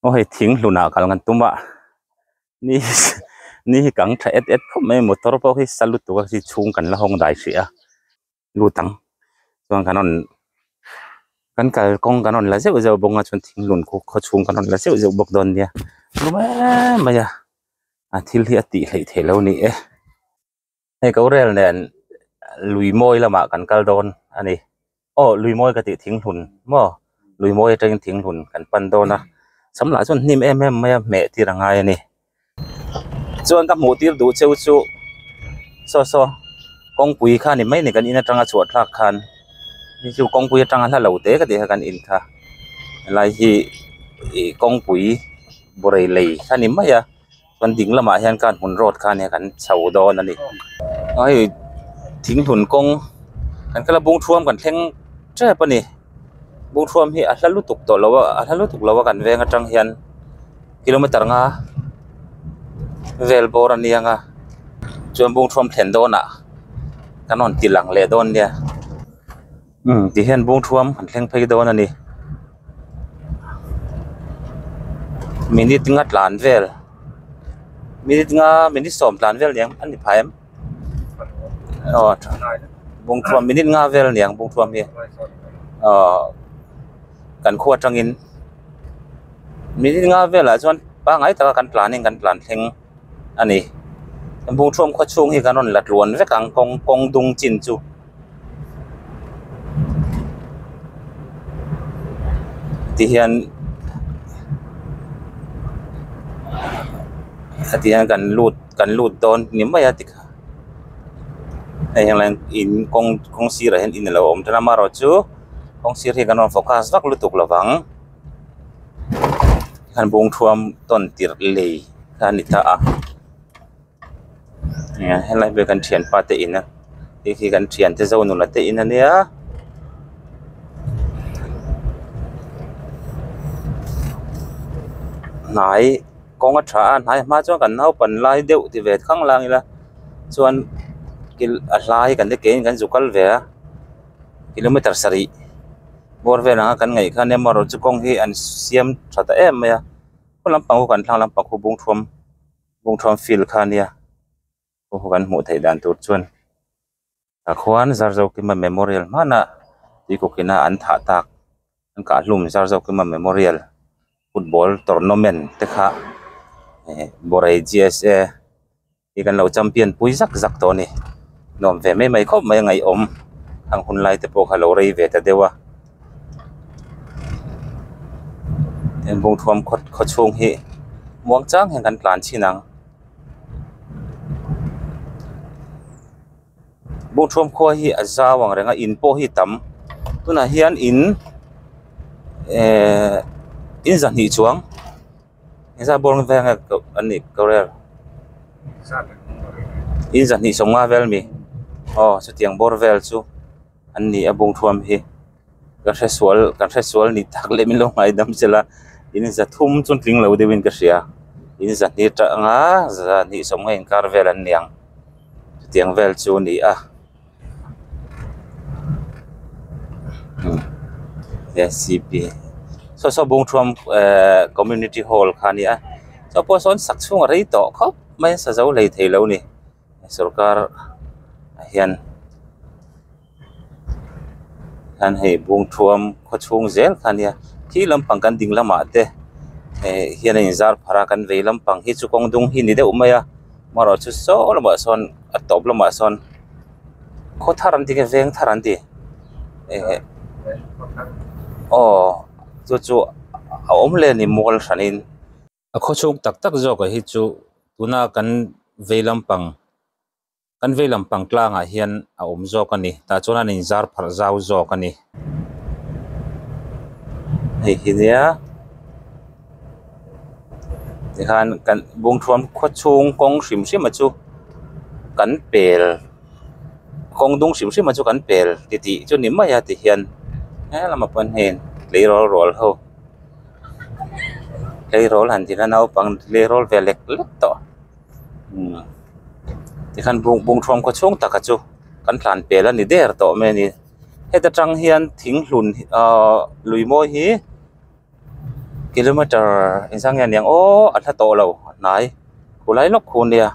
aw hei thing hlun ah kal kan tum a ni ni hi kang tha et et khawp mai motor pawh hi sa lut tur a si chhung kan la hawng dai hrih a lut ang chuan kan rawn kan kal kawng kan rawn la zeuh zeuh bawk a chuan thing hlun khaw chhung kan rawn la zeuh zeuh bawk dawn nia rum emmm mai a a thil hi a tih theih theih lo a ni e. hei ko rel nen lui mawi lamah kan kal dawn a ni aw lui mawi ka tih thing hlun maw lui mawi atangin thing hlun kan pan dawn a sam lah chuan hnim em em mai a hmeh tir a ngai a ni chuan ka hmuh tir duh cheu chu saw saw kawngpui kha ni mai ni kan in atanga chhuah thlak khan hei chu kawngpui atanga hla lo te ka tih kha kan in kha helai hi kawngpui burai lei kha ni mai a. Kan ding lamah hian khan hmun road khan hian kan chho dawn a ni a hei thing hlun kawng kan kal a bung thuam kan thleng tep a ni bung thuam hi a hla lutuk tawh lo a a hla lutuk lo a kan veng atang hian kilometre nga vel bawr a niang a chuan bung thuam thlen dawnah kan rawn tilang leh dawn nia. Umm ti hian bung thuam han thleng phei dawn a ni minute nga tlan vel minute nga minute sawm tlan vel nia a ni phah em aw bung thuam minute nga vel nia bung thuam hi aw kan khuwa tangin minute nga velah chuan pangai taka kan tlan in kan tlan thleng. a ni bungrawn khua chhung hi kan rawn la tluan vek ang kawng kawng dung chin chu tihian hetiang kan lut kan lut dawn ni mai a tikha hei hang laiin in kawng kawng sirah hian in alo awm tana amaherawhchu kawng sir hi kan rawn focus vak lutuk lovang. An bawngthuam tawn tirh lei kha a ni ta a nia helai ber kan thianpa te ina hei khi kan thiante zâwk nula te in ania. Hnai kawng a ṭha a hnai hma chuan kan naupan lai deuh ti ve khang la ang ila chuan kil a hlai kan ti keng in kan zu kal ve a. kilometer sarih bawr vel anga kan ngaih khan amaherawh chu kawng hi an siam tha ta em mai a khua lampang ho kan thlang lampang khu bungthuam bungthuam field kha nia aw ho kan hmuh theih dan tur chuan tah khuan zar zokaima memorial hmana tui kawk ina an thah tak an kahhlum zar zokaima memorial football tournament te kha borei gsa -- i kan lo champion pui zak zak tawh a ni nuam ve mai mai khawp mai a ngaihawm an hun lai te pawh kha a lo rei ve ta deuh a heng bungthuam khaw khaw chhung hi muang chang hian kan tlan chin ang bungthuam khua hi a zau ang reng a in pawh hi a tam tunah hian in ehh in zahnih chuang. Engzah bawr nge veng nge an nih ko rel? In zahnih sawm nga vel mi? Aw, chutiang bawr vel chu an ni a bung thuam hi. Ka hre sual, kan hre sual ni tak leh min lo ngaidam che la, in za thum chuan tling lo deuh in ka hria. In zahni tah anga zahnih sawm nga inkar vel an ni ang. Chutiang vel chu ni a. saw saw bung thuam ehh community hall kha nia saw pawh sawn sak chhung a rei tawh khawp mai a sa zo lei thei lo ni sorkar ah hian hian hei bung thuam khaw chhung zel kha nia khi lampang kan ding lamah te ehh hian a in zar phar a kan vei lampang hi chu kawng dung hi ni deuh mai a. Hmarau chu saw lamah sawn a tawp lamah sawn khaw thar an ti nge veng thar an ti eh aw chu chu a awm hle a ni mual hran in a khaw chhung tak tak zawk ah hi chu tuna kan vei lampang kan vei lampang tlangah hian a awm zawk a ni tah chuan a inzar pharh zau zawk a ni. hei hi nia tikhan kan bungthuam khua chhung kawng hrim hrima chu kan pel kawng dung hrim hrima chu kan pel titih chu ni mai a tihian hehlama pawn hei tleirawl rual ho tleirawl han tihna naupang tleirawl ve lek lek tawh umm tikhan bungthuam khua chhung takah chu kan tlan pel a ni der tawh mai a ni. heta tang hian thing hlun ahh lui mawi hi kilometer inzam nge niang aww a hla tawh lo a hnai khua lai lawk khun nia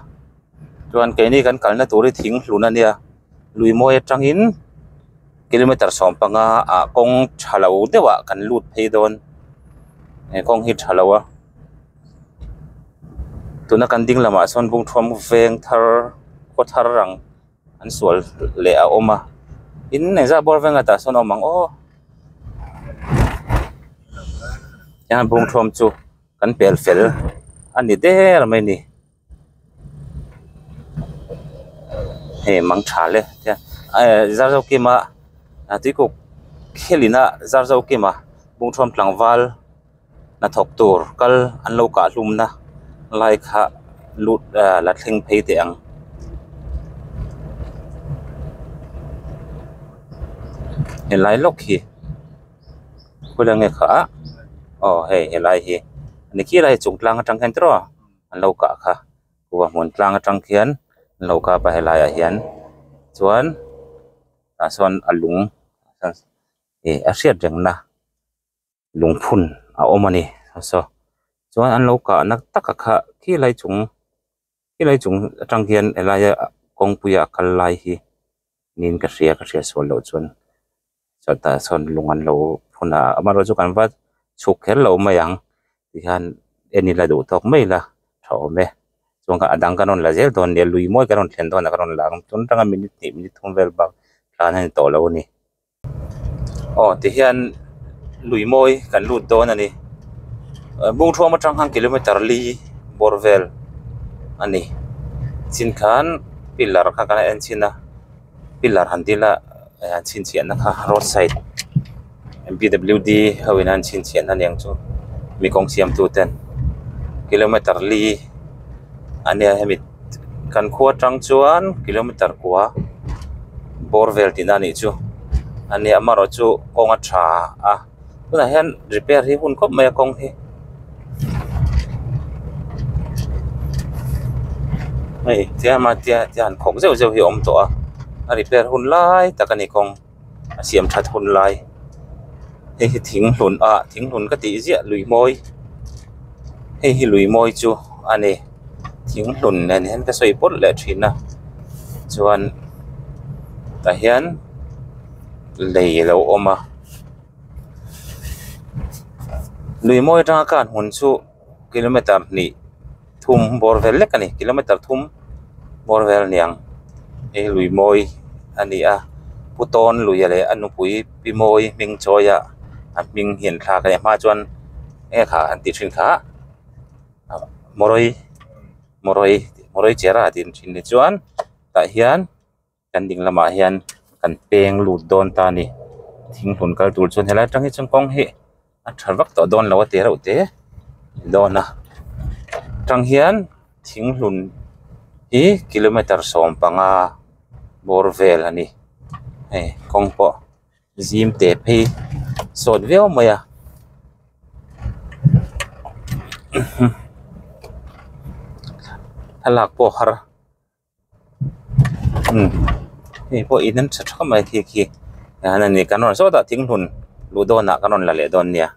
chuan keini kan kalna tur hi thing hlun a nia lui mawi atang in kilometer sawm panga ah kawng tha lo deuh ah kan lut phei dawn eng kawng hi tha lo a tuna kan ding lamah sawn bungthuam veng thar khaw thar ang-- An sual leh a awm a in engzah bawr veng atah sawn a awm ang aw heng an pung thawm chu kan pel fel a ni der mai ni hei mang tha le zar zo kima tuikuk khelina zar zo kima bungthawm tlangval. hnathawk tur kal an lo kahhlumna lai kha lut ah la thleng phei teh ang. Helai lawk hi khawih la nge kha ah aw hei helai hi a ni khilai chung tlang atang hian tiraw an lo kah kha khua hmun tlang atang khian an lo kap a helai ah hian chuan tah sawn a lung a hriat reng na. lungphun a awm a ni hwasa chuan an lo kahna taka kha khilai chung khilai chung atang hian a laia kawngpuia a kal lai hi niin ka hria ka hria sual loh chuan chutah sawn lung an lo phun a amaherawhchu kan va chhuk kher loh mai ang tihian eni la duh tawk mai la tha awm e chuan ka a dang ka rawn la zel dawn a nia lui mawi ka rawn thlen dawn a ka rawn la ang chuan atanga minute hnih minute thum vel bak tlan a ni tawh lo a ni. aw tihian lui mawi kan lut dawn a ni bungthuam atang khan kilometre li bawr vel a ni chin khan pillar kha kan en chhin a pillar han dil a an chhinchhiahna kha road side b w d ho in an chhinchhiahna ni ang chu mi kawng siam tu ten kilometre li a nia hemi-- kan khua tang chuan kilometer kua bawr vel tina anih chu a ni amaherawh chu kawng a tha a tunah hian repair hi a hun khawp mai a kawng hi hei tlema tia tia an khawk zeuh zeuh hi a awm tawh a a repair hun lai tak a ni kawng. A siam that hun lai hei hi thing hlun a thing hlun ka tih ziah lui mawi hei hi lui mawi chu a ni thing hlun nen hian ka sawi pawlh leh thin a chuan tah hian lei a lo awm a lui mawi atanga kan hun chu-- kilometer hnih thum bawr vel lek a ni kilometer thum bawr vel a ni ang he lui mawi a ni a pu tawn luia leh a nupui pi mawi hming chawia an hming hian thla a kan en hma chuan eng a kha an tih thin kha a mawrawi mawrawi mawrawi chera tih an thin ni chuan tah hian-- kan ding lamah hian kan peng lut dawn ta a ni thing hlun kal tur chuan helai atang hi chuan kawng hi a tha vak tawh dawn lo a ti reuh te ni dawn a atang hian thing hlun hi kilometer sawm panga bawr vel a ni hei kawng pawh zim te phei sawt viau mai a. hei pawh in nasa tha mai khi khi nana ni kan rawn sawtah thing hlun luh dawnah kan rawn la leh dawn nia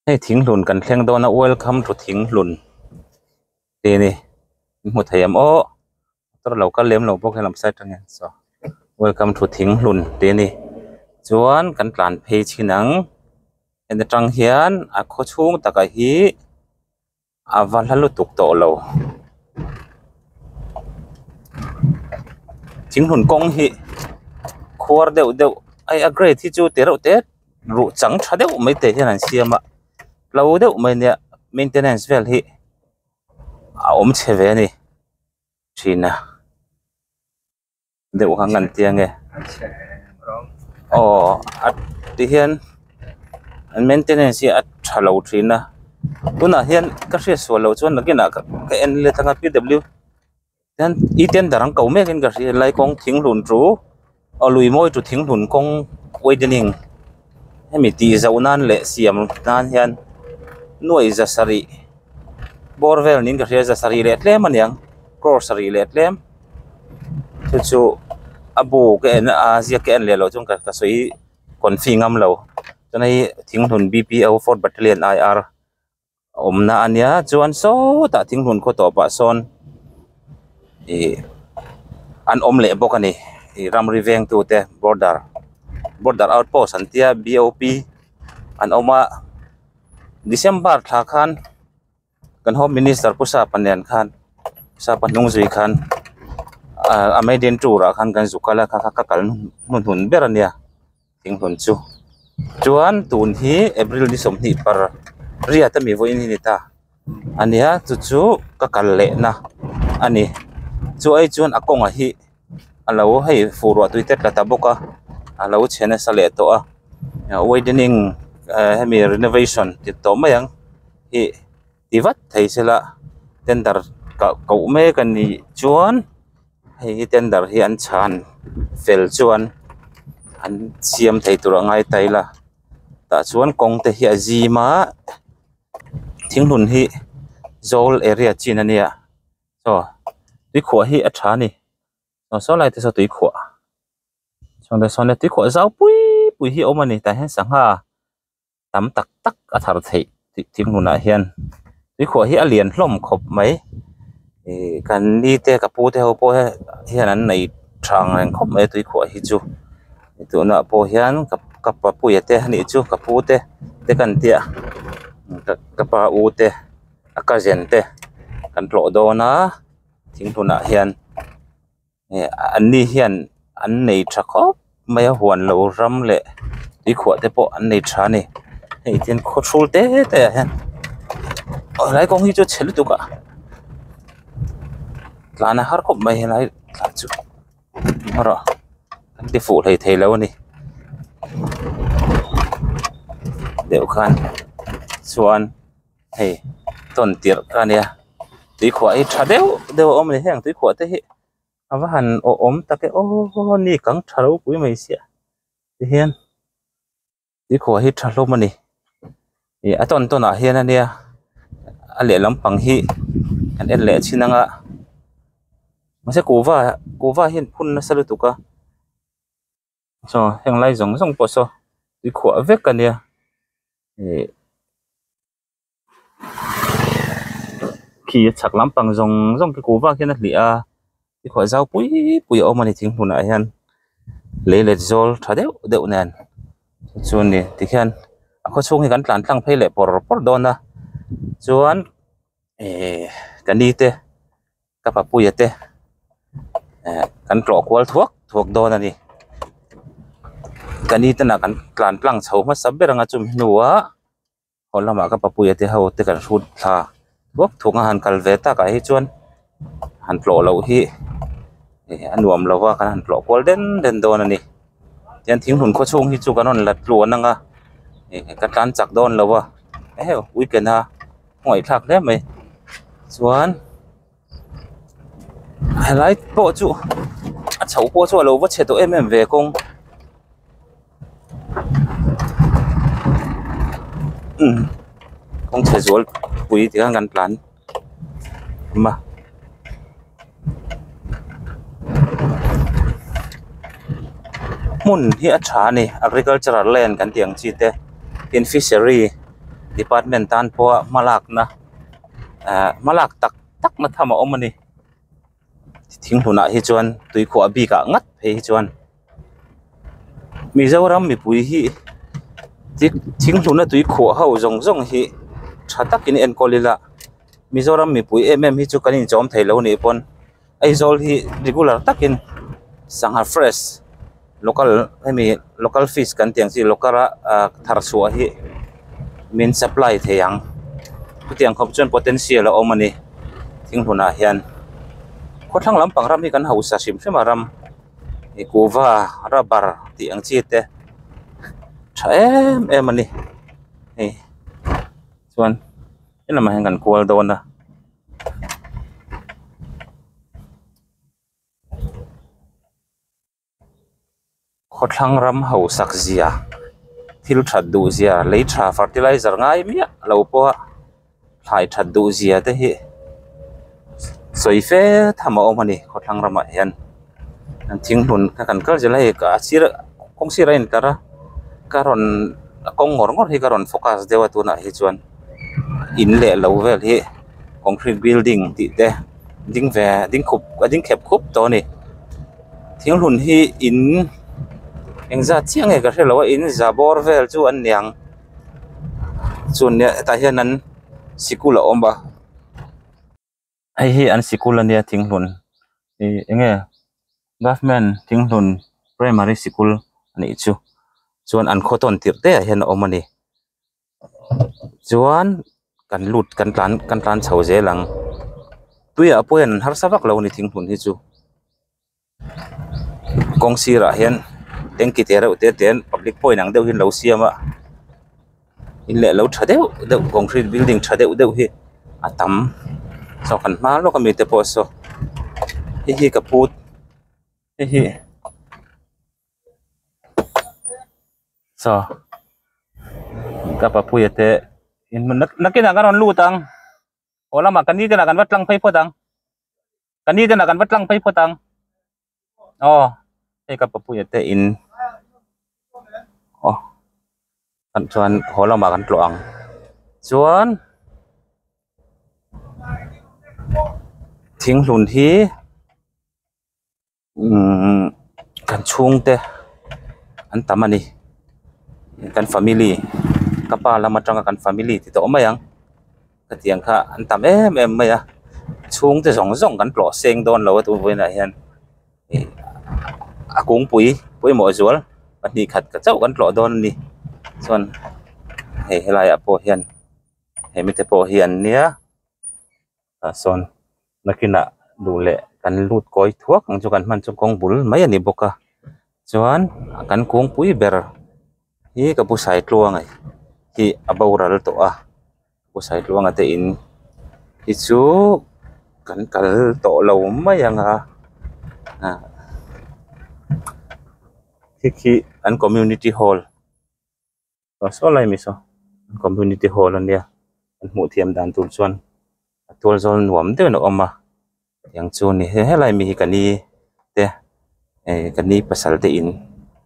hei thing hlun kan thleng dawna welcome to thing hlun tih ni in hmu thei ang aw motor lo kal lem lo bawk helai marsai tang hian saw welcome to thing hlun tih a ni chuan kan tlan phei chin ang heta tang hian a khaw chhung takah hi-- A va hla lutuk tawh lo. Thinghun kawng hi khuar deuh deuh ai a grade hi chu ti reuh te ruh chang tha deuh mai te hian an siam a hlo deuh mai nia maintenance vel hi a awm chhe ve a ni thin a. deuh ang an tia nge aww tihian maintenance hi a tha lo thin a tunah hian ka hriatsual loh chuan nakin ah ka en let anga p w hian e tender ang ko mek in ka hria helai kawng thing hlun chu aw lui mawi chu thing hlun kawng widening hemi tih zauh nan leh siam nan hian nuaih za sarih bore vel niin ka hria za sarih leh tlem aniang cross sarih leh tlem. chu chu a bu ka en a a ziak ka en leh loh chuan ka sawi kawn fee ngam lo chuan hei thinghlun bpo fourth battalion aiar a awmna a nia chuan sawtah thinghlun khaw tawh pah sawn ih an awm leh bawk a ni ih ramri veng tu te border border outpost an tia bop an awm a december thla khan-- Kan Home Minister Pu Sapanian khan Sapa hnung zui khan a Maiden tour ah khan kan zu kal a kha kha ka kal hnu hnun ber a nia thinhlun chu chuan tun hi April ni sawmhnih par riat a mi vawi in hi ni ta a nia chu chu ka kal leh na a ni chu ai chuan a kawngah hi-- a lo hei fuh ruah tui te tla ta bawk a a lo chhe nasa leh tawh a widening ahh hemi renovation dik tawh mai ang hih ti vat thei se la tender kah koh mek a nih chuan hei hi tender hi an chhan fel chuan an siam thei tur a ngai ta ila tah chuan kawng te hi a zim a thing hlun hi zâwl area chin a nia. Chaw tui khuah hi a tha a ni. Chaw sawi lai te saw tui khuah. Chhungte sawn tui khuah zau pui pui hi a awm a ni. Tah hian sangha tam tak tak a thar theih tih thing hunah hian tui khuah hi a lian hlawm khawp mai. Ihh ka ni te ka pu te ho pawh hian an nei thang reng khawp mai a tui khuah hi chu. Hei tunah pawh hian ka papuia te a nih chu ka pu te te ka han tia ka pa u te. a cousin te kan tlawh dawn a thing hunah hian heh an ni hian an nei tha khawp mai a huan loh ram leh tuikhuah te pawh an nei tha a ni hei hian khaw ṭhul te te ah hian aw helai kawng hi chu chhe lutuk a tlan a har khawp mai helai tlan chu hmarawh an ti fuh hlei thei lo a ni deuh khan chuan-- hei tawn tirh ka nia tuikhuah hi tha deuh deuh a awm a ni heng tuikhuah te hi a va han awh awm tak e aw ni kang tha lo pui mai sia tihian tuikhuah hi tha hlawm a ni ih a tawn tawn ah hian a nia a leh lampang hi an en leh chin ang a mahse kuhva kuhva hian phun nasa lutuk a. Chaw henglai zawng zawng pawh saw tuikhuah vek a nia ihh khi a chhak lampang zawng zawng ka kuhva khian a hliah a tuikhuah zau pui pui a awm a ni thing hunah hian lei let zawl tha deuh deuh nen chu a ni tikhian a khaw chhung hi kan tlan tlang phei leh pawrh pawrh dawn a chuan ihh ka ni te-- Ka papuia te eh kan tlawh kual thuak thuak dawn a ni ka ni te nah kan tlan tlang chho hmasa ber ang a chumi hnua haw lamah ka papuia te ho te kan hrut thla thuak thuak a han kal ve tak ah hi chuan han tlawh loh hi eh a nuam lo va kan han tlawh kual den den dawn a ni tian thing hlun khaw chhung hi chu kan rawn la tluan ang a eh ka tlan chak dawn lo va eh weekend a. ngawithlak hle mai chuan helai pawh chu a chho pawh chu a lo va chhe tawh em em ve kawng umm kawngchhe zualpui tih khan kan tlan awm a. hmun hi a tha a ni agricultural land kan tih ang chi te tin fishery department tan pawha hma lakna ehh hma lak tak tak na tham a awm a ni thing hnunah hi chuan tuikhuah bik ah ngat phei hi chuan-- Mizoram mipui hi tih thing hnuna tui khuah ho zawng zawng hi tha takin enkawl ila Mizoram mipui em em hi chu kan inchawm thei lo nih pawn Aizawl hi regular takin sangha fresh local hemi local fish kan tih ang chi local a ah thar chhuah hi min supply thei ang hetiang khawp chuan potential a awm a ni thing hnunah hian khawthlang lampang ram hi kan hausa hrim hrima ram. Ikuva rubber tih ang chi te tha em em a ni hei chuan he lamah hian kan kual dawn a khawthlang ram hausak zia thil that duh zia lei tha fertilizer ngai miah lo pawh a. Thlai that duh zia te hi sawi fe tham a awm a ni khawthlang ramah hian an thing hlun kha kan kal zel a hei a sir a kawng sir a in tlar a ka rawn a kawng ngawr ngawr hi ka rawn focus deuh a tunah hi chuan in leh lo vel hi concrete building tih te ding ve ding khup a ding khep khup tawh a ni thing hlun hi in engzat chiah nge ka hrelo a in za bawr vel chu an niang. chuan nia hetah hian an sikul a awm a hei hi an sikul a nia thinghlun ihh eng nge government thinghlun primary sikul a nih chu chuan an khaw tawn tirh te ah hian a awm a ni chuan kan lut kan tlan kan tlan chho zel ang tuiah pawh hian an harsa vak lo a ni thinghlun hi chu. kawng sirah hian tanky teh reuh te ten public pawh inang deuhin lo siam a in leh lo tha deuh deuh concrete building tha deuh deuh hi a tam chauh kan hma lawk a mi te pawh saw hei hi ka pu hei hi chaw ka pa puia te in hmun nâk nâk in ka rawn lut ang aw lamah kan ni te lah kan va tlang phei phawt ang. ka ni ten ah kan va tlang phei phawt ang aw hei ka papuia te in aw kan chuan haw lamah kan tlawh ang chuan thinghlun hi kan chhungte an tam a ni kan family ka pa lam atanga kan family tih te awm mai ang hetiang kha an tam em em mai a chhungte zawng zawng kan tlawh seng dawn lo a tunah hian ih a kawngpui pawimawh zual pahnih khat chauh kan tlawh dawn a ni chuan hei helaiah pawh hian he mite pawh hian nia. tah sawn nakinah duh leh kan lut kawi thuak ang chu kan hman chu kawng bul mai a ni bawk a chuan kan kungpui ber hi ka bu sai tluange hi a boral tawh a ka bu sai tluanga te in hi chu kan kal tawh lo mai ang a ah heki an community hall . tawh saw lai miss a community hall a nia kan hmuh thiam dan tur chuan a tual zawl nuam daih loh a awm a tiang chu ni he helai mi hi ka ni te eh ka ni pasal te in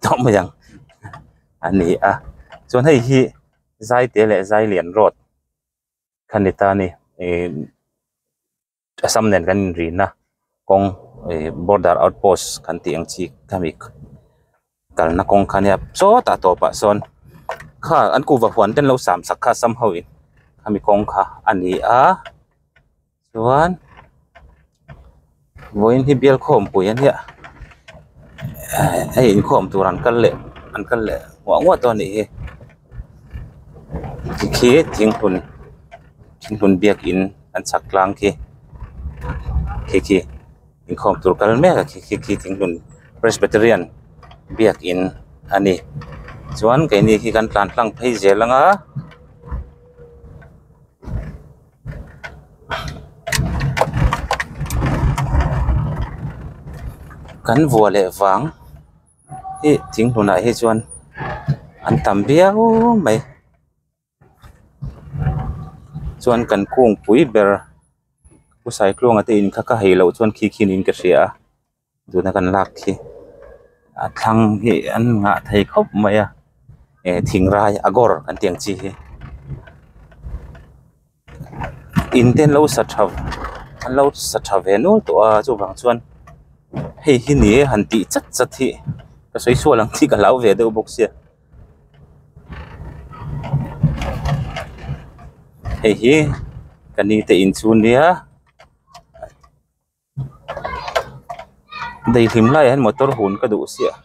tawh mai ang a ni a chuan hei hi zaite leh zailian road kha ni ta a ni ehh-- Assam nen kan inrinna kawng ih border outpost kan tih ang chi kha mi kalna kawng kha nia sawtah tawpah sawn kha an kuhva huan ten lo sam sak kha assam ho in kha mi kawng kha a ni a chuan vawiin hi bial khawm pui ania hei inkhawm tur an kal leh an kal leh huah huah tawh a nih hi tikhi thinghlun thinghlun biak in-- an chhak tlang khi khi khi inkhawm tur kal mek a khi khi khi thing hlun presbyterian biak in a ni chuan keini khi kan tlan tlang phei zel ang a. Kan vua leh vang hi thing hlun ah hi chuan an tam viau mai. chuan kan kung pui ber pu saikluang a te in kha ka hei loh chuan khi khi niin ka hria a tun a kan lak khi a thlang hi an nghah thei khawp mai a e thingrai a gawr kan tih ang chi hi in te an lo sa tha an lo sa tha ve nual tawh a chuvang chuan hei hi ni e han tih chat chat hi ka sawi sual ang khi ka hlau ve deuh bawk sia. hei hi kan ni te in chu nia daihlim lai ah hian motor hun ka duh siah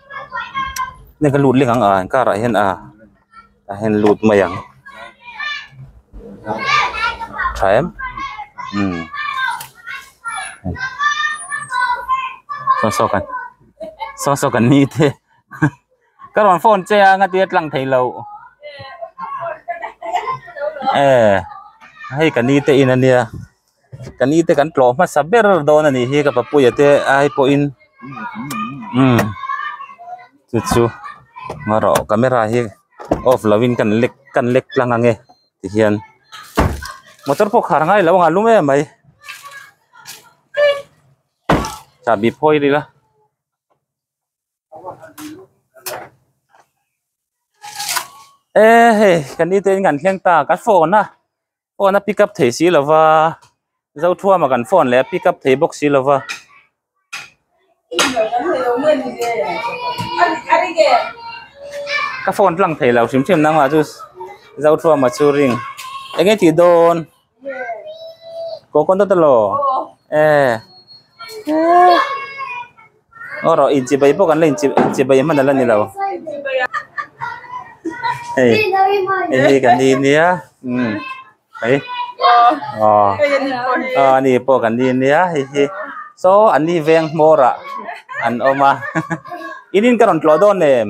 hei ka lut lek ang ah car ah hian a ah hian lut mai ang tha em umm saw saw kan saw saw kan ni te. Ka rawn phone che a ngatia tlang thei lo. Eh, hei ka ni te in ania. Ka ni te kan tlawh hmasa ber dawn a nih hi ka papuia te ai pawhin umm chu chu ngarawh camera hi off lo in kan lek kan lek tlang ang e tihian motor pawh khar ngai lo anga lum em mai chahbi phawi rih la. eh hei kan ni tain kan thleng ta ka phone a phone a pick up thei si lo va zo thuama kan phone leh a pick up thei bawk si lo va. Coconut emaw eh aw rawh inchihpei pawh kan la inchih inchihpei hman ala nilo hei hei kan ni nia umm hei aw aw ani pawh kan ni nia hei hi saw an ni veng hmawrah an awm a inin ka rawn tluah dawn em.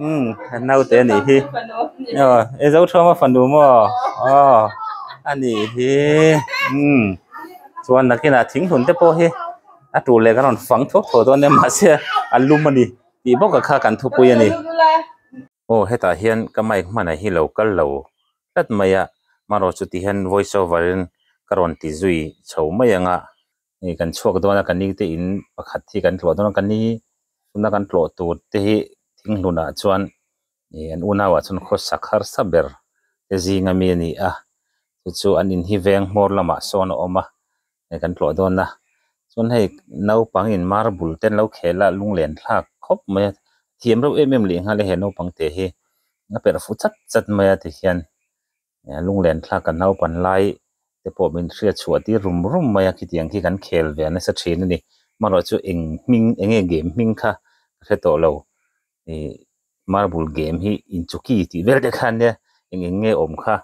umm ka naute a nih hi aw e zothawma fanu maw aw a nih hi umm chuan nakin ah thing hmun te pawh hi a tul leh ka rawn fang thup thup dawn nia mahse a lum a ni tih bawk kha kan thupui a ni aw hetah hian ka mic hman ah hi lo kal lo tlat mai a marawh chuti hian voice over in ka rawn ti zui chho mai ang a hei kan chhuak dawn a kan ni te in pakhat hi kan tluah dawn a kan ni tuna kan tlawh tur te hi thing hlunah chuan ih an unau ah chuan khaw sak harsa ber te zing ami a ni a chu chu an in hi veng hmawr lamah sawn a awm a hei kan tluah dawn a chuan hei naupang in marble te an lo khel a lunglen thlak khawp mai a thiam reuh em em leh nghal a he naupang te hi a perh fu chat chat mai a tikhian Lunglen thlak kan naupan lai te pawh min hriat chhuah tir rum rum mai a khitiang khi kan khel ve a nasa thin a ni marawh chu eng hming enge game hming kha ka hre tawh lo i marble game hi in chuki tih vel deuh khan nia eng eng nge awm kha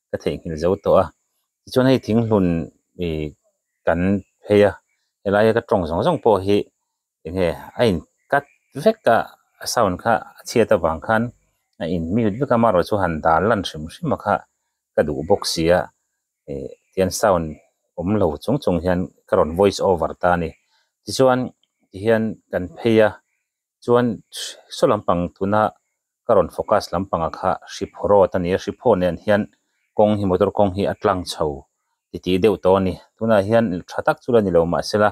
ka theihnghilh zo tawh a tichuan hei thinghlun i kan phei a helaia ka tawng zawng zawng pawh hi Enge a in cut vek a a sound kha a chhiat avang khan a in mute vek a marawh chu han dal lan hrim hrim a kha ka duh bawk sia eh tian sound awm lo chung chung hian ka rawn voice over ta a ni tichuan tihian kan phei a chuan saw lampang tuna ka rawn focus lampanga kha hriphaw road a ni a hriphaw nen hian kawng hi motor kawng hi a tlang chho ti tih deuh tawh a ni tunah hian tha tak chu la ni lo mahse la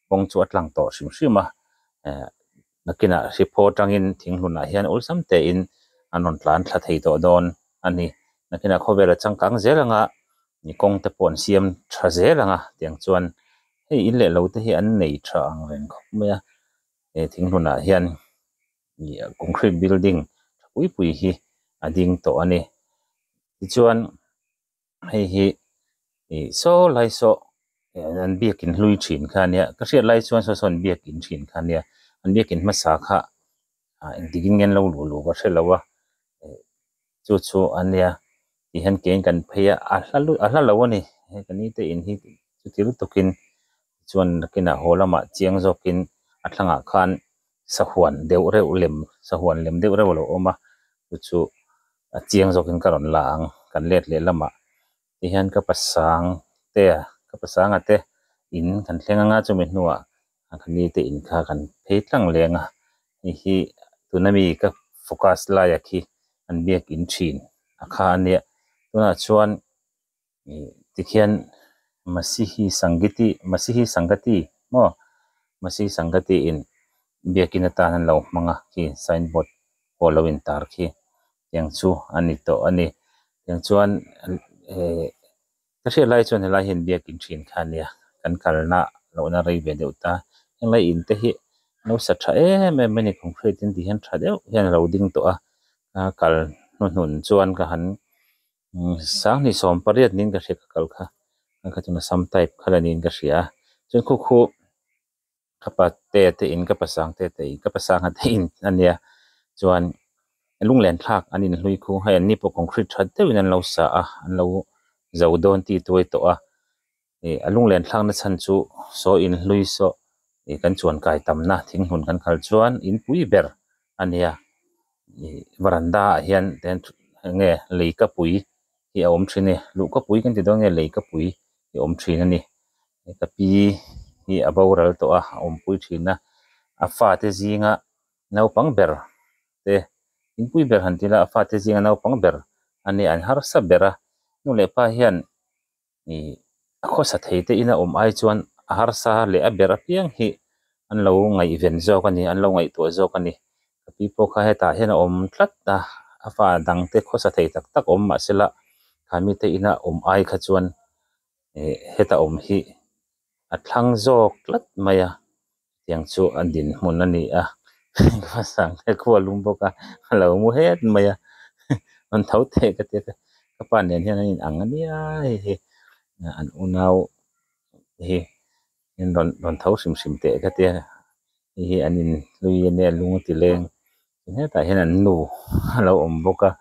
kawng chu a tlang tawh hrim hrim a eh nakinah hriphaw atangin thinghlunah hian awlsam tein an rawn tlan thla thei tawh dawn a ni nakinah khawvela changkang zel anga kawngte pawh an siam tha zel ang a tiang chuan hei in leh lo te hi an nei tha ang reng khawp mai a eh thinghlunah hian. ih concrete building tha pui pui hi a ding tawh a ni tichuan hei hi ih saw lai sawh an biakin hlui thin kha a nia ka hriat lai chuan saw saw an biakin thin kha a nia an biakin hmasa kha engtikin ngen lo luh luh ka hrelo a. chu chu an nia tih hian kein kan phei a a hla lut a hla lo a ni he ka ni te in hi chuti lutuk in chuan nakin ah haw lamah chiang zawk in a thlangah khan sahuan deuh reuh lem sahuan lem deuh reuh a lo awm a chu chu a chiang zawk in ka rawn la ang kan let leh lamah Tihian ka pasang te a, ka pasang a te in kan thleng anga chumi hnuah kan ni te in kha kan phei tlang leng a, hei hi tuna mi ka focus laia khi an biak in thin a kha a nia, tunah chuan tikhian Masihi Sangiti, Masihi Sangati maw? Masihi Sangati in biak in atan an lo hmang a khi signboard pawh lo in tar khi tiang chu a ni tawh a ni. Tiang chuan eh ka hriat lai chuan helai hian biakin ṭhin kha a nia, kan kalna lohna rei ve deuh ta. Henglai in te hi nausa ṭha em em mai a ni, concrete in tih hian ṭha deuh hian a lo ding tawh a. Ka kal hnuhnun chuan ka han sang ni sawm pariat niin ka hria ka kal kha. Ka tuna sam type kha la niin ka hria a. Chuan khu khu. ka pa te te in ka pa sang te te in ka pa sang te in a nia chuan lunglen thlak an in hlui khung hei an ni pawh concrete that deuh in an lo sa a an lo zo dawn ti tuai tawh a ih a lunglen thlak na chhan chu saw in hlui saw ih kan chuan kai tam na thing hmun kan kal chuan in pui ber a nia ih varanda ah hian ten nge lei ka pui hi a awm thin i luh ka pui kan ti dawn nge lei ka pui hi a awm thin a ni. Heta pi hi a boral tawh a, a awmpui thin a, a fate zinga naupang ber te inpui ber han ti la a fate zinga naupang ber a nia an harsa ber a, nu leh pa hian ih a khawsa thei te in a awm ai chuan a harsa leh a ber apiang hi an lo ngaihven zawk a ni, an lo ngaihtuah zawk a ni, ka pi pawh kha hetah hian a awm tlat a, a fa dang te khawsa thei tak tak awm mahse lah kha mite ina awm ai kha chuan heta awm hi a thlang zawk tlat mai a tiang chu a din hmun a ni a ka sangte khu a lum bawk a a lo mu het mai a rawn tho thei ka tia ka pa nen hian an in ang ania hei hi an unau hi an rawn rawn tho hrim hrim teh ka tia hei hi an in hlui ania lung a ti leng. Ti hetah hian an nu a lo awm bawk a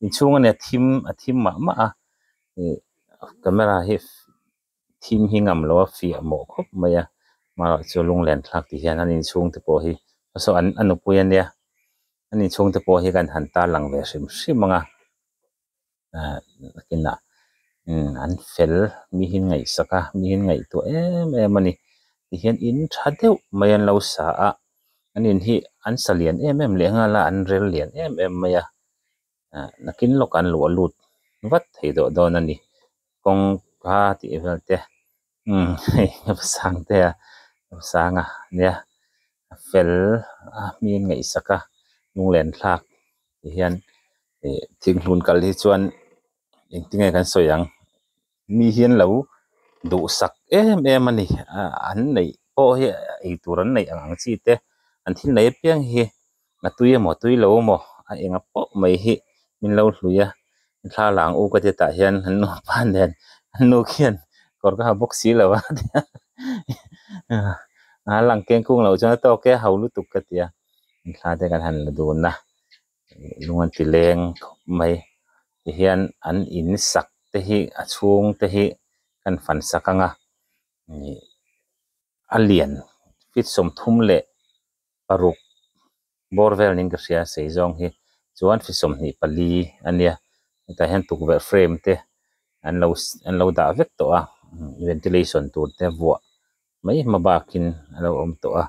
inchhung a ni a thim a thim mah mah a ih camera hi thim hi ngam lo a fiah mawh khawp mai a mahro chu lung len thlak ti hian an inchhung te pawh hi hmasaw an a nupui a nia an inchhung te pawh hi kan han tarlang ve hrim hrim ang a. nakin ah an fel mi hi ngaihsak a mi hi an ngaihtuah em em a ni tihian in tha deuh mai an lo sa a an in hi an sa lian em em leh nghal a an rel lian em em mai a nakin lawkah an luh a lut vat thei deuh dawn a ni kawng kha tih vel te umm hei heta sang te a heta sang a nia a fel a hmi an ngaihsak a lunglen thlak tih hian ih thing hnun kal hi chuan engtin nge kan sawi ang mi hi an lo duhsak em em a ni ah an neih pawh hi eitur an neih ang ang chi te an thil nei apiang hi-- a tui emaw a tui lo maw a enga pawh mai hi min lo hlui a thla lang u ka ti tah hian an nupa nen an nu khian kawr ka ha bawk si lo a a lang keng kung lo chuan a tawk e a hau lutuk ka ti a an thla te kan han la dun a lung an ti leng khawp mai tihian an in sak te hi a chhung te hi kan fan sak anga ih a lian fitsawm thum leh-- ka ruk bawr vel niin ka hria sei zawng hi chuan hri sawmhnih pali a nia hetah hian tukverh frame te an lo an lo dah vek tawh a ventilation tur te vuah mai hma bakin a lo awm tawh a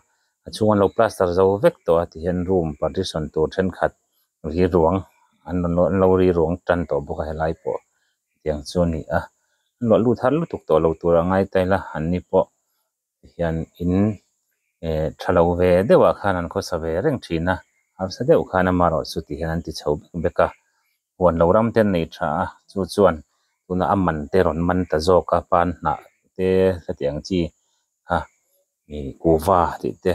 a chhung an lo plaster zo vek tawh a tihian room partition tur thenkhat rilruang an lo an lo rilruang tan tawh bawk a helai pawh tiang chu a ni a an luah lut har lutuk tawh lo tur a ngaitaila anni pawh. hian in eh tha lo ve deuh ah khan an khaw sa ve reng thin a harsa deuh khan ama erawh chu tih hian an ti chho vek vek a huan lo ram te an nei tha a chu chuan tunah a man te rawn man ta zawk a pan hnah te hetiang ang chi kha ih kuhva tih te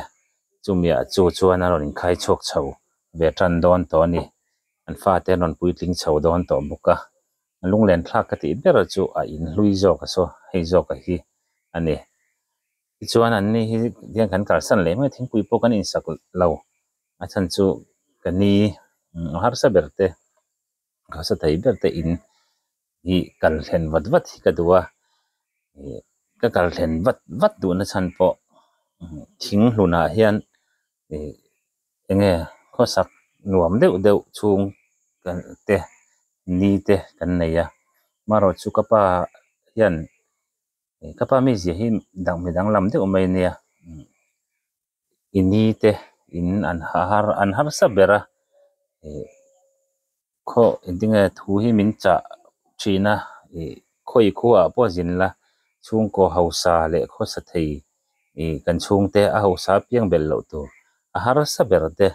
chumi ah chu chuan a rawn in khai chhuak chho ve tan dawn tawh a ni an fate an rawn puitling chho dawn tawh bawk a. lunglen thlak ka tih ber chu a inhlui zawk a saw hei zawk a hi a ni tichuan an ni hi tiang kan kalsan leh mai thingpui pawh kan insak lo a chhan chu ka ni a harsa ber te harsa thei ber te in hi kal thlen vat vat hi ka duh a ih ka kal thlen vat vat duhna chhan pawh thing hlun ah hian ih enge khawsak nuam deuh deuh chhung kan te ni te kan nei a amaherawhchu chu ka pa hian ih ka pa mi zia hi dang mi danglam deuh mai a nia i ni te in an har an harsa ber a ih-- Khaw engtinge thu hi min chah thin a, ih, khawi khuaah pawh zin la, chhungkaw hausa leh khawsa thei, ih, kan chhungte a hausa piang belh loh tur, a harsa ber te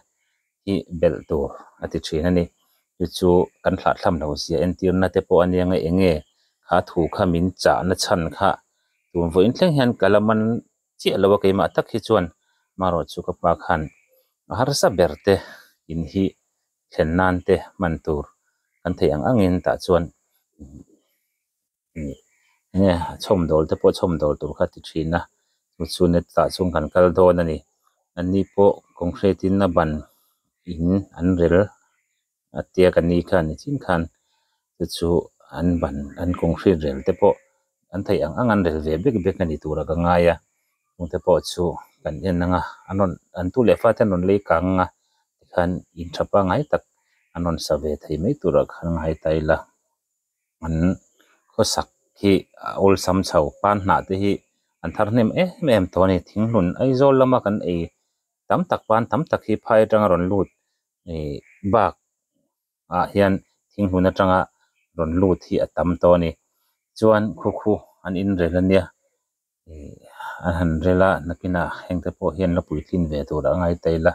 hi belh tur a ti thin a ni. Chu chu kan hlahthlam lo zia entirna te pawh a nia eng nge kha thu kha min chahna chhan kha tun vawiin thleng hian ka la man chiah lo a, keimah tak hi chuan amaherawhchu ka pa khan a harsa ber te in hi thlen nan te hman tur kan theih ang ang in tah chuan enge a chawm dawl te pawh chawm dawl tur kha ti thin a chu chu net ah chuan kan kal dawn a ni an ni pawh concrete in a ban in an rel a tia kan ni kha ni chin khan. te chu an ban an concrete rel te pawh an theih ang ang an rel ve bek bek a ni tura ka ngai a kawngte pawh chu kan en anga an rawn an tu leh fat hian rawn lei kang anga tikhan in tha pangngai tak an rawn sa ve thei mai turah kha an ngai ta ila an khawsak khi a awlsam chho pan hnah te hi an thar hnem em em tawh a ni thinghmun aizawl lama kan ei tam tak pan tam tak hi phai atanga rawn lut ihh bak-- ah hian thing hun atanga rawn lut hi a tam tawh a ni. Chuan khukhu an inrel ania ih an han rel a nakinah hengte pawh hian la puitlin ve tur a ngai ta ila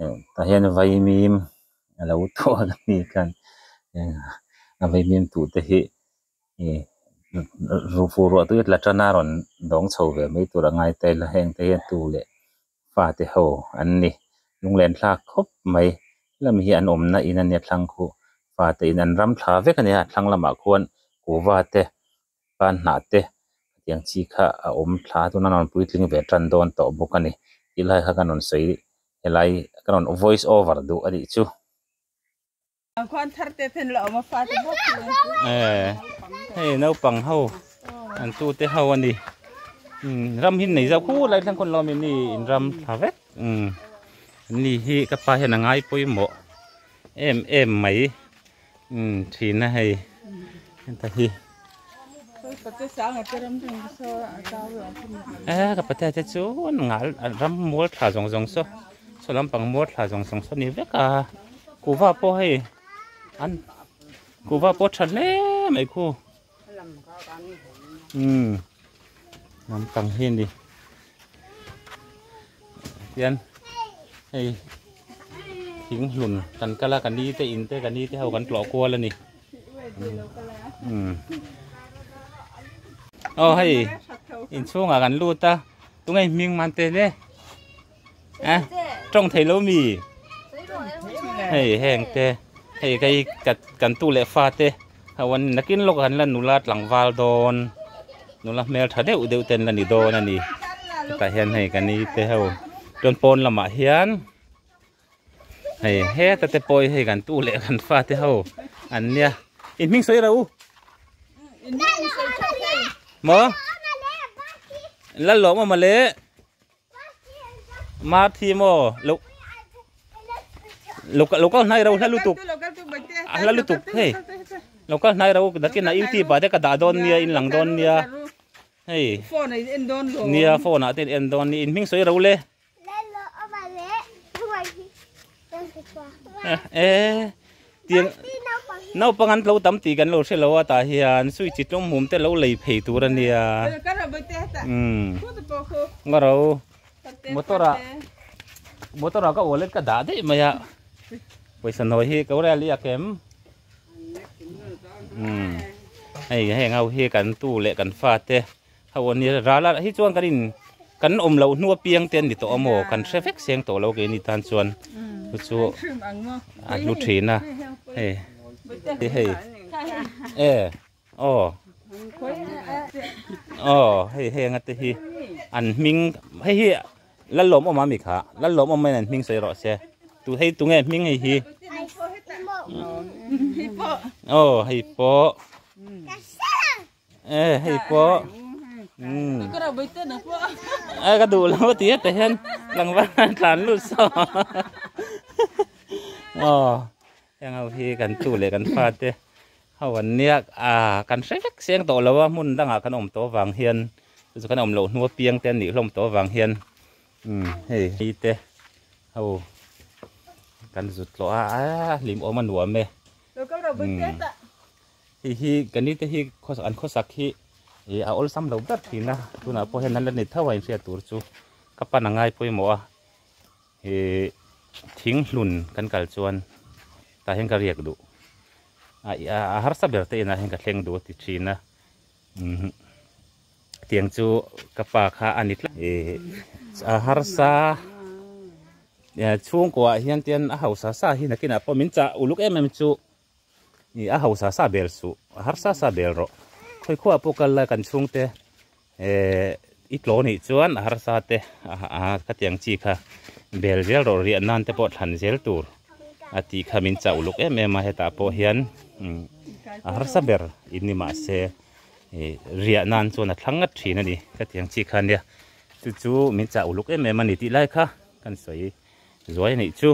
eh tah hian vaimim a lo thuar a ni khan eh a vaimim tu te hi ih ruh fuh ruah tute la tana rawn dawng chho ve mai tur a ngai ta ila hengte hian tu leh Fate ho an ni. Lunglen thlak khawp mai. Helami hi an awmna in a nia thlang khu fate in an ram thla vek a nia. Thlang lamah khuan kuhva te pan hnah te tiang chi kha a awm thla tuna rawn puitling ve tan dawn tawh bawk a ni. Ti lai kha ka rawn sawi helai ka rawn voice over duh a nih chu. Ang khuan thar te ten la oma fa te bo. Eh. Hey, no pang ho. An tu te ho ani. Hmm, ram hin nei zau khu lai thang kon lo mi ni in ram tha vek. Hmm. Ni hi ka pa hian angai poi mo. Em em mai. Hmm, thina hei. Ta hi. Eeh ka patea te chu ngal ram mual thla zawng zawng saw saw lampang mual thla zawng zawng saw ni vek a kuhva pawh hei an kuhva pawh a tha hle mai khu umm lampang hi a ni. Hian hei thing hlun kan kal a, ka ni te in te ka ni te ho kan tlawh kual a ni. Aw hei in chhungah kan lut a, tunge hming man te le a tawng thei lo mi? Hei heng te, hei ka i kan tu leh fa te. Hawn nakin lawk han la nula tlangval dawn nula hmel tha deuh deuh ten la ni dawn a ni tah hian hei kan ni te ho chuan pawn lamah hian hei heta te pawh hei kan tu leh kan fa te ho an nia in hming sawi ro in hming sawi tha hle maw lal lawm amaw le Marthi maw lo lo lo kal hnai ro hla lutuk a hla lutuk hei lo kal hnai ro dakin a youtube ah te ka dah dawn nia in lang dawn nia hei phone ah en dawn lo nia phone ah te en dawn ni in hming sawi ro le e tir naupang an lo tam ti kan lo hre lo a ta hian sui chi tlum hum te lo lei phei tur ania um nga ro motor a motor a ka wallet ka dah deuh mai a paisa nawi hi ko rel i a kem um hei heng ho hi kan tu leh kan fa te Hau a nia ral a, hi chuan kan in kan awm loh hnu apiang te a ni tawh a maw, kan hre vek seng tawh lo ke ni tan chuan chu chu a hlu thin a, hei ti hei e aw aw hei hei anga te hi an hming hei hi lal lawm awm a mi kha, lal lawm awm maiin an hming sawi rawh se, tu hei tunge an hming hei hi aw hei pawh. Eh, hei pawh. Hmm. Ka rau bai te na pawh. Eh, ka duh lo ti heta hian tlangval an tlan lut saw. Oh, heng ho hi kan tu leh kan fa te ho an nia. Ah, kan hre vek seng tawh lo a hmun dangah kan awm tawh vang hian chu chu kan awm loh hnu apiang te an nih hlawm tawh vang hian um hei hi te ho kan zut tawh a. Ah, hlim awm a nuam e. Ka rau bai te ta. Hei hi kan ni te hi an khawsak hi a awlsam lo ber thin a, tunah pawh hian nan la ni tho a inhriat tur chu ka pan a ngai pawimawh a, ih thing hlun kan kal chuan tah hian ka riak duh a harsa ber te inah hian ka thleng duh a ti thin a, umh tiang chu ka pa kha a ni tlat a, ih a harsa chhungkua ah hian tian a hausa sa hi nakinah pawh min chah uluk em em chu Ni a hausa sa bel suh, a harsa sa bel rawh. Khawi khuaa pawh kal lai kan chhungte eh i tlaw nih chuan a harsa te ah khatiang chi kha bel zel rawh riah nan te pawh thlan zel tur a tih kha min chah uluk em em a hetah pawh hian a harsa ber in ni mah se riah nan chuan a thlang ngat thin a ni khatiang chi kha nia chu chu min chah uluk em em a ni tih lai kha kan sawi zuai a nih chu.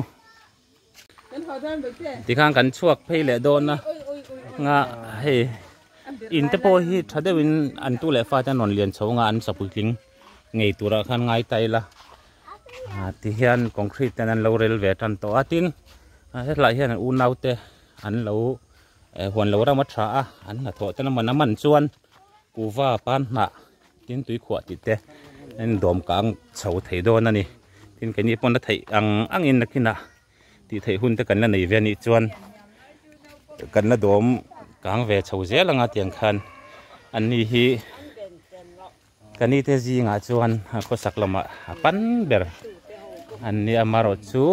Tikhan kan chhuak phei leh dawn a nga hei in te pawh hi tha deuh in an tu leh fate an rawn lian chho anga an sakui tling ngei tur ah khan ngai ta ila tihian concrete ten an lo rel ve tan tawh a tin hetlai hian unaute an lo huan lo ram a tha a an hnathawh te lam an man chuan Kuva pan hnah tin tui khuah tih te in dawm ka ang chho thei dawn a ni tin kei ni pawh na theih ang ang in nakin ah tih theih hun te kan la nei ve a nih chuan kan la dawm ka ang ve chho zel ang a tiang khan an ni hi ka ni te zing ah chuan a khawsak lam ah a pan ber an ni a marawt chu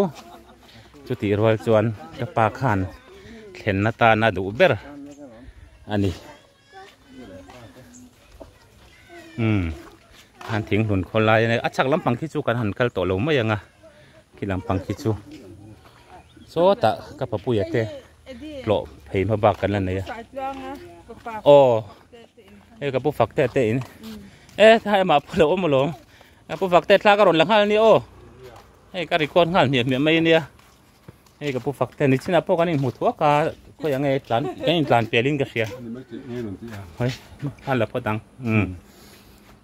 chu tih rual chuan ka pa khan thlen na tan a duh ber a ni. umm han thing hlun khawl lai a chak lampang khi chu kan han kal tawh lo mai ang a khi lampang khi chu sawtah ka papuia te tlawh phei hma bak kan la nei a aw hei ka pu fakte te in e thai mah phu lo awm alawm ka pu fakte thla ka rawn la nghal a ni aw hei ka record nghal hmiah hmiah mai a nia hei ka pu fak te ni china po kan in mu thu aka khoi ange tlan kan in tlan pelin ka hria hoi an la pho dang um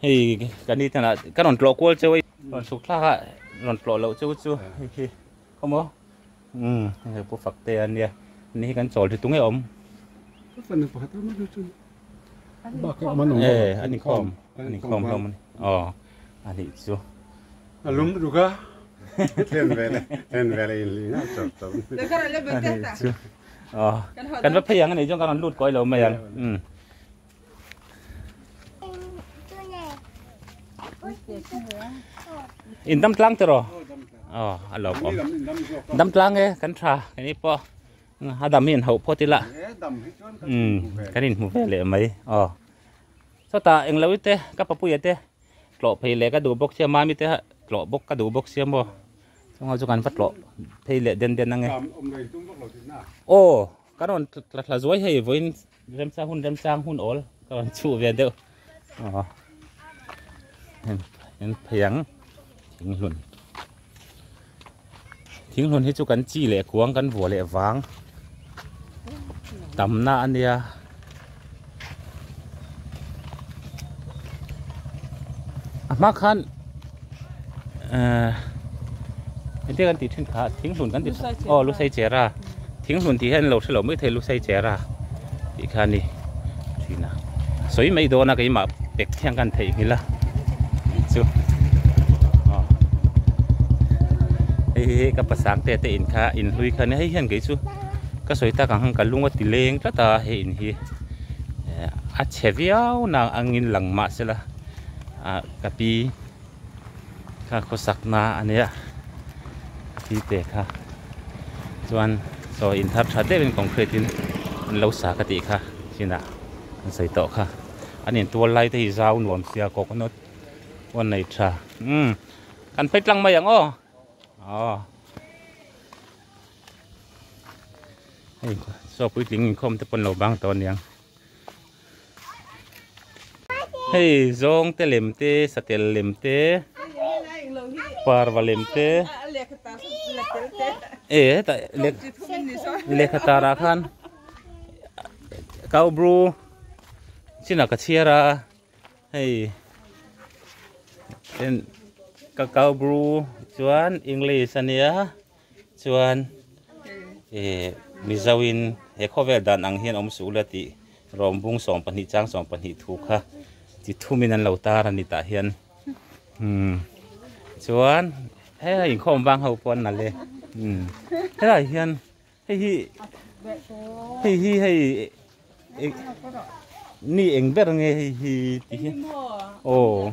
hei kan ni tana ka ron tlo kual cheu ron suk thlaka ron tlo lo cheu chu hi khomo um hei pu fak te ania ni kan chawl thi tunge om Eh, ani khom, ani khom hlawm mawni. Aw, ani chu. A lum ruga. Thlen vele, thlen vele in lina chawp chawp. Ani chu. Aw, kan va phei ang ani chuan kan rawn lut kuai lo mai ang. Um. In dam tlang te rawh. Aw, a lo pawm. Dam tlang e, kan tha, kani pawh. a dam hi an hauh phawt ila umm kan inhmu ve leh mai aw chutah englo ite ka papuia te tlawh phei leh ka duh bawk sia mami te tlawh bawk ka duh bawk sia maw chunga chu kan va tlawh phei leh den den ange aw ka rawn tla tla zuai hei vawiin Remchang hun remchang hun awl ka rawn chhuh ve deuh aw en en phei ang thinglun thinglun hi chu kan chi leh kuang kan vua leh vang tamna ania ahma khan Heti kan tih thin kha thinhlun kan ti aw lusei chera thinhlun tih hian an lo hrelo mai thei lusei chera tih kha a ni thin a sawi mai dawn a keimah pek thiang kha an theihnghilh a tih chu aw hei hi ka pasang te te in kha in hlui kha nia hei hian kei chu ka sawi tak ang khan ka lung a ti leng tlat a hei in hi a chhe viau nang angin lang mahsela. Ahh ka pi kha khawsak na a nia a pi te kha chuan chaw in thar tha deuhin concrete in an lo sa ka tih kha chinah an sawi tawh kha an in tuar lai te hi zau nuam sia coconut pawh a nei tha umm kan phei tlang mai ang aw aww hei chawpui tling inkhawm te pawh an lo bang tawh a niang. Hei zawng te lem te satel lem te parva lem te e heta lehkha tar ah khan kau bru chin ah ka chhiar a hei ka kau bru chuan english a nia. Chuan i Mizo in he khawvel dan ang hian awm suh la tih Rawmbung sawm pahnih chang sawm pahnih thu kha chi thum in an lo tar a ni tah hian umm chuan he a inkhawm vang ho pawh an nalh e umm helai hian hei hi hei hi hei mi eng ber nge hei hi tih hian aw.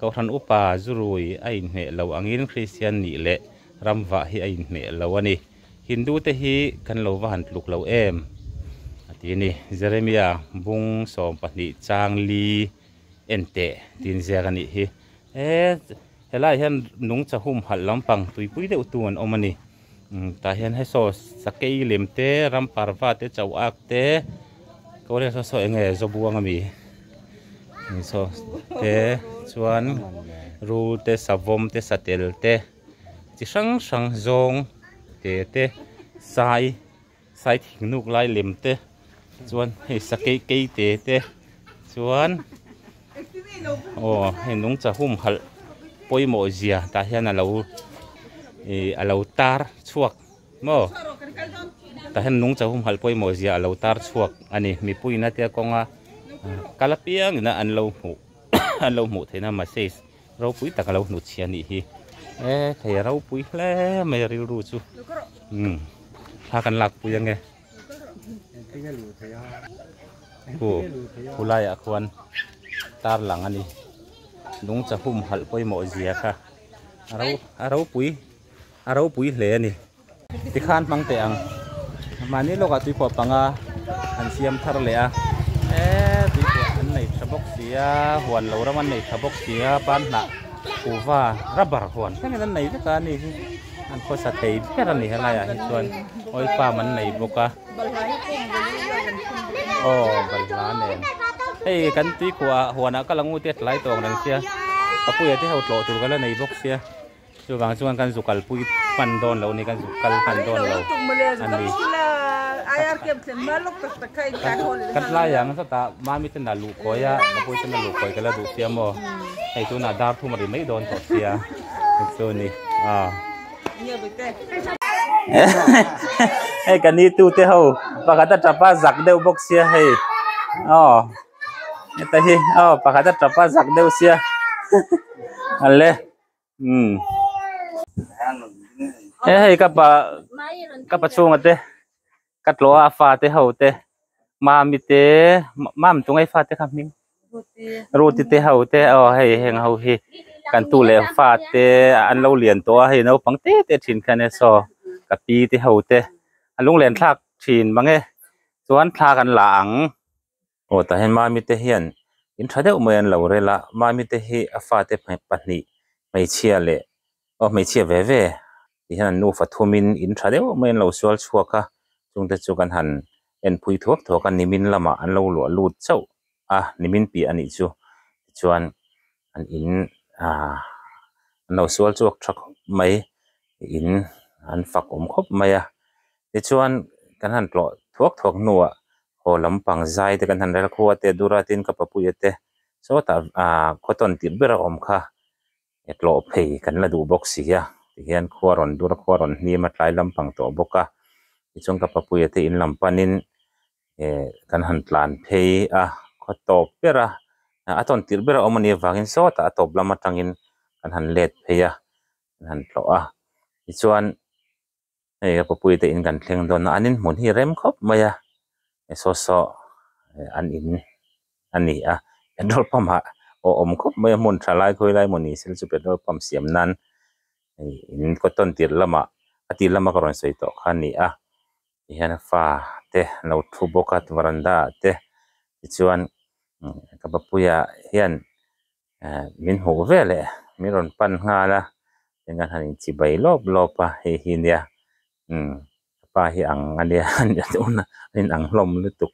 Kohhran upa zurui a inhmeh lo angin Kristian nih leh ramvah hi a inhmeh lo a ni. Hindu te hi kan lo va han tluk lo em? a ti a ni. Jeremia bung sawm pahnih chang li enteh tinziak a nih hi. He, he lai hian nungcha humhalh lampang tuipui deuh tu an awm a ni. Tah hian he saw sakei lem te ramparva te chau ak te kawlek saw saw eng nge zaw buang a mi saw te chuan rul te savawm te satel te chi hrang hrang zawng te te sai. Sai thingnuk lai lem te chuan hei sakei kei te te chuan aw hei nung chahum halh pawimawh zia tah hian a lo ih a lo tar chhuak maw tah hian nung chahum halh pawimawh zia a lo tar chhuak a ni mipuiin a tia kawng a kal apiangin a an lo hmuh an lo hmuh theihna massage -- Ropui tak a lo hnut chhia nih hi. E thei a ropui hle mai a rilru chu. Umm. Thla kan lak pui ange. Khu khu laiah khuan tarlang a ni. Lung chahum halh pawimawh zia kha a ropui a ropui hle a ni. Ti khan hmang teh ang. Mahni lawkah tuiphuah panga an siam thar leh a. E, tuiphuah an nei tha bawk si a, huan lo ram an nei tha bawk si a, pan hnah uva rubber huan thlengin an nei vek a ni hi. An khawsa thei ber a ni helai ah hi chuan oil palm an nei bawk a. Balhla hi kung ve leh luai kan khum bawk a ni. Aw, balhla nen. Hei kan tuiphuah ah huan ah ka la ngu tet lai tawk reng sia. Ka puia te ho tlawh tur ka la nei bawk sia. Chuvang chuan kan zukalpui pan dawn lo ni kan zuk kal pan dawn lo ani ka tlai ang zat a mami ten a luh kawi a nupui ten a luh kawi ka la duh sia maw hei tunah dar thum a ri mai dawn tawh sia chu ni hei ka ni tute ho pakhat a tap a zak deuh bawk sia hei aw heta hi aw pakhat a tap a zak deuh sia ale. um he hei ka pa ka pa chhunga te ka tlawha a fa te ho te mami te mam chung ai fa te kha hming ruti te ho te aw hei heng ho hi kan tu leh fa te an lo lian tawh a hei naupang te te thin khian e saw ka pi te ho te a lunglen thlak thin mang e chuan thla kan la ang. aw tah hian mami te hian in tha deuh mai an lo rel a mami te hi a fate pahnih hmeichhia leh aw hmeichhia ve ve tih hian an nu fa thum in in tha deuh mai an lo sual chhuak a chungte chu kan han en phui thuak thuak a nimin lamah an lo luah lut chauh a nimin piah a nih chu tichuan an in ah an lo sual chhuak tha khawp mai in an fak awm khawp mai a tichuan kan han tlawh thuak thuak hnuah haw lam pang zai te kan han rel khua te Duratin ka papuia te sawtah ah cotton tih ber a awm kha e tlawh phei kan la duh bawk si a tihian khua rawn dur khua rawn hlim a tlai lampang tawh bawk a tichuan ka papuia te in lam panin. eh kan han tlan phei a khaw tawp ber a a tawn tirh ber a awm a nih avangin sawtah a tawp lam atangin kan han let phei a kan han tlawh a tichuan hei a papuii te in kan thleng dawn a an inhmun hi rem khawp mai a eh saw saw an in a ni a petrol pump ah aw awm khawp mai a hmun tha lai khawi lai mawni se chu petrol pump siam nan hei in kawt tawn tirh lamah a tirh lama ka rawn sawi tawh kha a ni a. ti hian a fa te an lo thu bawk a varanda ah te tichuan ka bapuia hian ehh min hmuh vel eh min rawn pan nghal a tichuan han inchhi bai lawp lawp a hei hi nia umm ka pa hi ang a nia nia dawn a a inang hlawm lutuk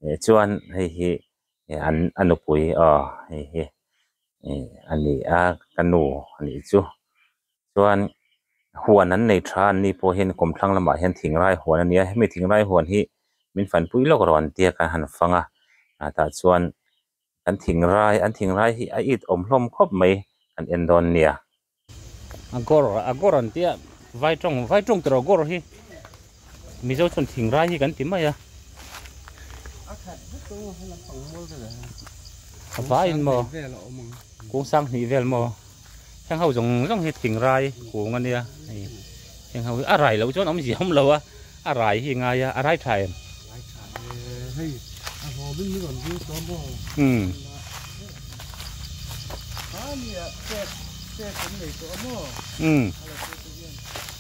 eh chuan hei hi eh an a nupui aw hei hi a ni a ka nu a nih chu. chuan huan an nei tha an ni pawh hian kawm thlang lamah hian thingai huan a ni a hemi thingai huan hi min fan pui lawk ero an ti a kan han fang a ah tah chuan kan thingai an thingai hi a it awm hlawm khawp mai kan en dawn a nia. Agawr agawr an tia vai tawng vai tawng tawrh agawr hi Mizo chuan thing rai hi kan ti mai a. A khat vek ang a, he lam pang mual vel ang a. A va in maw? Kung sang hnih vel maw? Heng ho zawng zawng hi thing rai kung a nia. Heng ho hi a rai loh chuan awm zia awm lo a, a rai hi ngai a, a rai tha em? Rai tha e, hei a haw vin hi rawn zir tawh maw? Umm. Khania pek, pek kan nei tawh a maw? Umm. A la chu chu hian.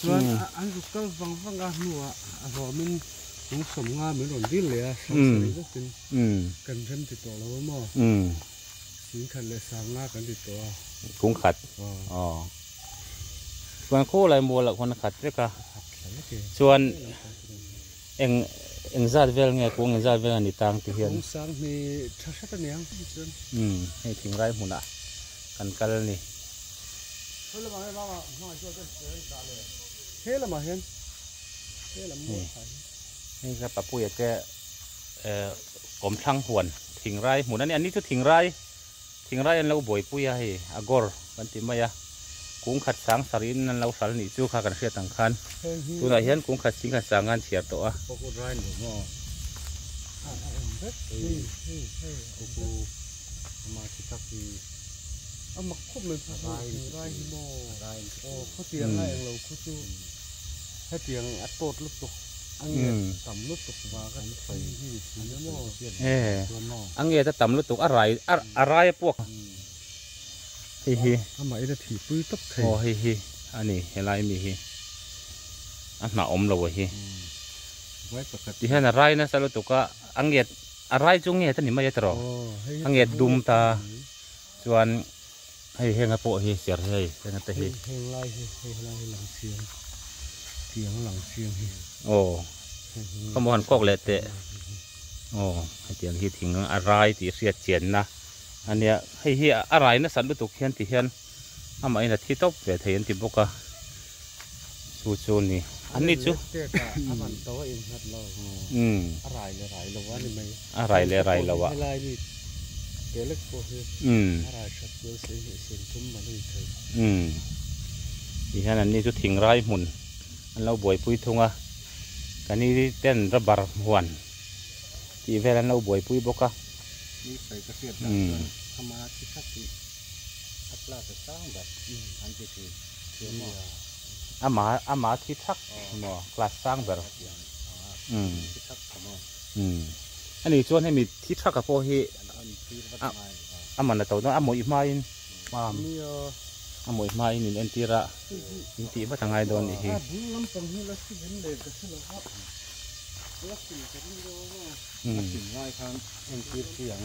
Chuan an ruk kal vang vang a hnuah a hawm in an sawm nga min rawn dil leh a hrang sa rih zawk in kan rem ti tawh lo a maw min khat leh sang nga kan ti tawh a kung khat aw chuan khaw lai mual ah khawn a khat vek a chuan Eng eng zat vel nge kung eng zat vel a ni tang ti hian. Kung sang hme tha hrat a niang hi chuan. Umm hei thing rai hmun ah kan kal a ni. He lamah hian mama hmangaih chu a ber ber a ni ta le. He lamah hian he lam mawi phah hi. Hei kha Papuia te eh kawmthlang huan thing rai hmun a ni. An ni chu thing rai. Thingraia an lo buaipui a hei, a gawr kan ti mai a, kung khat sang sarhin an lo hral nih chu kha kan hriat ang khan, tunah hian kung khat sing khat sanga an chhiar tawh a. a ngeta tam lutuk a rai a rai puak hei hi amah ila thih pui tawp thei aw hei hi a ni helai mi hi a hnah awm lo a hi vai pakhat ti hian a rai nasa lutuk a a nget a rai chu nget a ni mai a tawrh a nget dum ta Chuan hei henga pawh hi ser hi hei henga te hi. Hei ngai hi hei helai hi lang chiang tiang lang chiang hi. Aw ka maw han kawk leh teh aw hetiang hi thing a rai tih hriat chianna a nia hei hi a rai nasat lutuk hian ti hian amahin a thi tawp ve thei an ti bawk a. chu chu ni an ni chu a rai leh rai lo ah ti hian an ni chu thing rai hmun an lo buai pui thung a kan ni hi ten rabar huan tih vel an lo buai pui bawk a ama ama thi thak maw class sang ber umm umm ani chuan hemi thi thak a pawh hi a man a to dawn a mawih hmain farm a mawih hmain in entir a in tih vat a ngai dawn nih hi la sim ta ring deuh ang a la sim lai khan entir chi ang.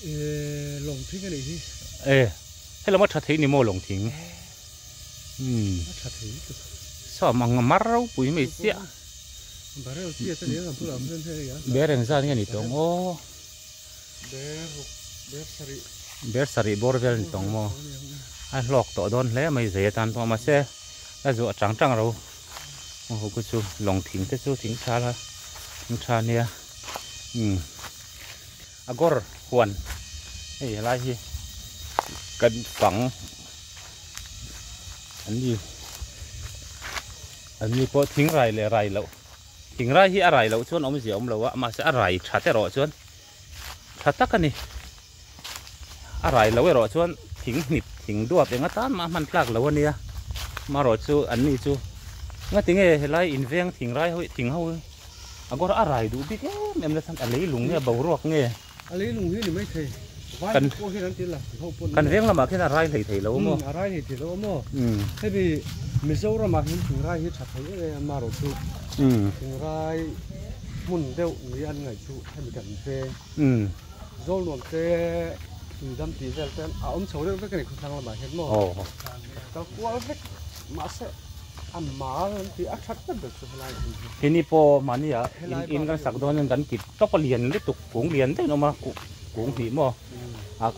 Ehh lawngthing a nih hi. Ehh helama tha thei ni maw lawngthing umm a tha thei mek a. Sawm ang a mar ropui mai chiah. Barrel chi ata nia kan thu lam hian hei a. Ber eng zan nge ni tawng aw. Ber ber sarih. Ber sarih bawr vel ni tawng maw a hlawk tawh dawn hle mai zei atan pawh mahse a zuah chang chang ro aw ho ku chu lawngthing te chu thing tha la thing tha nia umm. Agawr huan hei helai hi kan fang an ni an ni pawh thing rai leh rai loh thing rai hi a rai loh chuan awmzia awm lo a mahse a rai tha te rawh chuan tha tak a ni a rai lo erawh chuan thing hnip thing duap enga tan mah hman tlak lo a nia marawh chu an ni chu ngatinge helai inveng thing rai ho thing ho a gour a rai duh bik em em nasa a leilung nge a boruak nge a leilung hi ni mai thei vai kan pawh hian an ti la ho pawh kan veng lamah khian a rai hlei thei lo a maw a rai hlei thei lo a maw hemi mizoram ah hian thing rai hi tha thei em em a rawhchu thing rai hmun deuh ni an ngaih chu hemi kan veng zol nuam te tui dam tih vel te a awm chho reuh vek a ni khaw thlang lamah hian maw ka kual vek. mahse a mal an tih a that vat ber chu helai hmun hi hi ni pawh mahnia in kan sak dawn kan kip tawp a lian lutuk kung lian deuhin a awm a kung hnih maw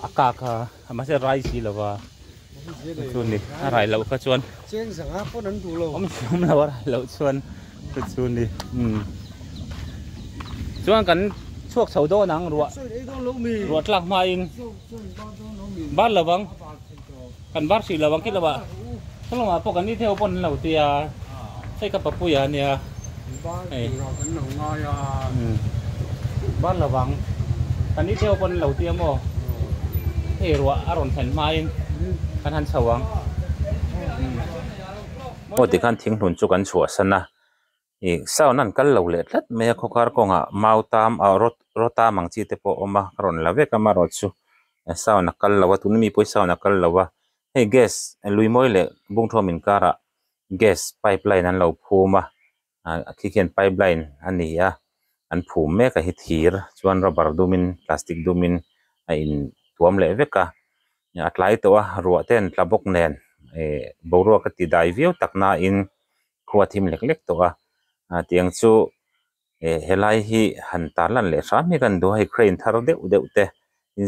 a kak a mahse rai si lo va chu ni a rai loh kha chuan cheng zanga pawn an duh lo awm si awm lo a rai loh chuan chu chu ni chuan kan chhuak chho dawn ang ruah ruah tlak hmain bar lovang Kan var hrih lo ang kil lovah Salomah pawh kan ni thei ho pawn an lo ti a, hei ka papuia a nia. Kan var hrih lo kan lo ngai a. Var lo ang kan ni thei ho pawn an lo ti a maw? Hei ruah a rawn thlen hmain kan han chho ang. Maw tikhan thinghlun chu kan chhuahsan a, Ih sound a an kal lo leh tlat mai a khawkar kawngah mau tam ah raw raw tam ang chi te pawh a awm a ka rawn la vek a amarawh chu a sound a kal lo a tuna mi pawh hi sound a kal lo a hei gas lui mawi leh bungthawm inkar ah gas pipe line an lo phum a a khi khian pipe line a ni a an phum mek a hi thir chuan rubber dum in plastic dum in a in tuam leh vek a a tlai tawh a ruah te an tla bawk nen ih boruak a ti dai viau tak na in Khua thim lek lek tawh a, a tiang chu eh helai hi han ta lan leh hrâm hi kan duh a, hei crane thar deuh deuh te,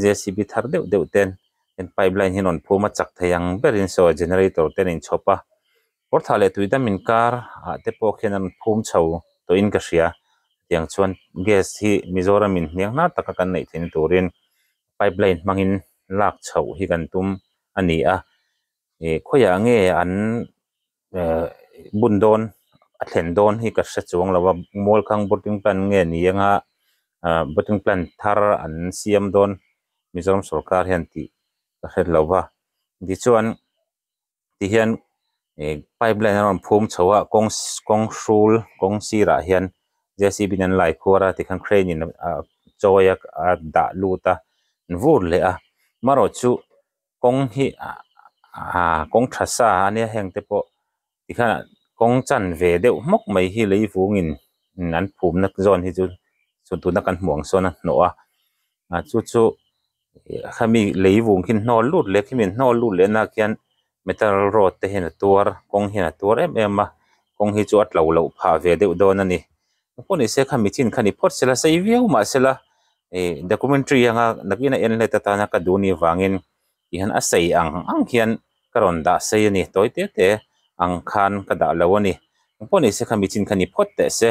jcb thar deuh deuh ten heng pipe line hi an rawn phum a, chak thei ang berin saw generator te an inchhawp a, Kawrthah leh Tuidam inkar ah te pawh khian an rawn phum chho tawhin ka hria, tiang chuan gas hi Mizoram inhniang hna taka kan neih theih na turin pipe line hmangin lak chhoh hi kan tum a ni a, eh khawiah nge an ehh bun dawn a thlen dawn hi ka hre chuang lova mualkhang botting plant nge ni anga ahh botting plant thar an siam dawn mizoram sawrkar hian tih ka hre lova tichuan tihian ehh pipe line a rawn phum chho a kawng kawng hrul kawng sirah hian j c b in an laikhuar a tikhan crane in a chawi a dah lut a vur leh a marawhchu-- kawng hi aah kawng tha sa a nia heng te pawh tikhan kawng chan ve deuh hmawk mai hi lei vungin an phum na zâwn hi chu chhun tuna kan hmuh ang sawn a hnawh a a chu chu khami lei vung khin hnâwl lût leh khi min hnâwl lût leh nâk hian metal rod te hian a tuar kawng hian a tuar em em a kawng hi chu a tlo loh phah ve deuh dawn a ni. Ka hmu nise kha mi thin kha ni phawt sela sei viau mah sela documentary anga nakin a en let atana ka duhni vangin tihian a sei ang ang hian ka rawn dah sei a ni tawi te te ang khan ka dah lo a ni. Ka hmu nise kha mi thin kha ni phawt teh se.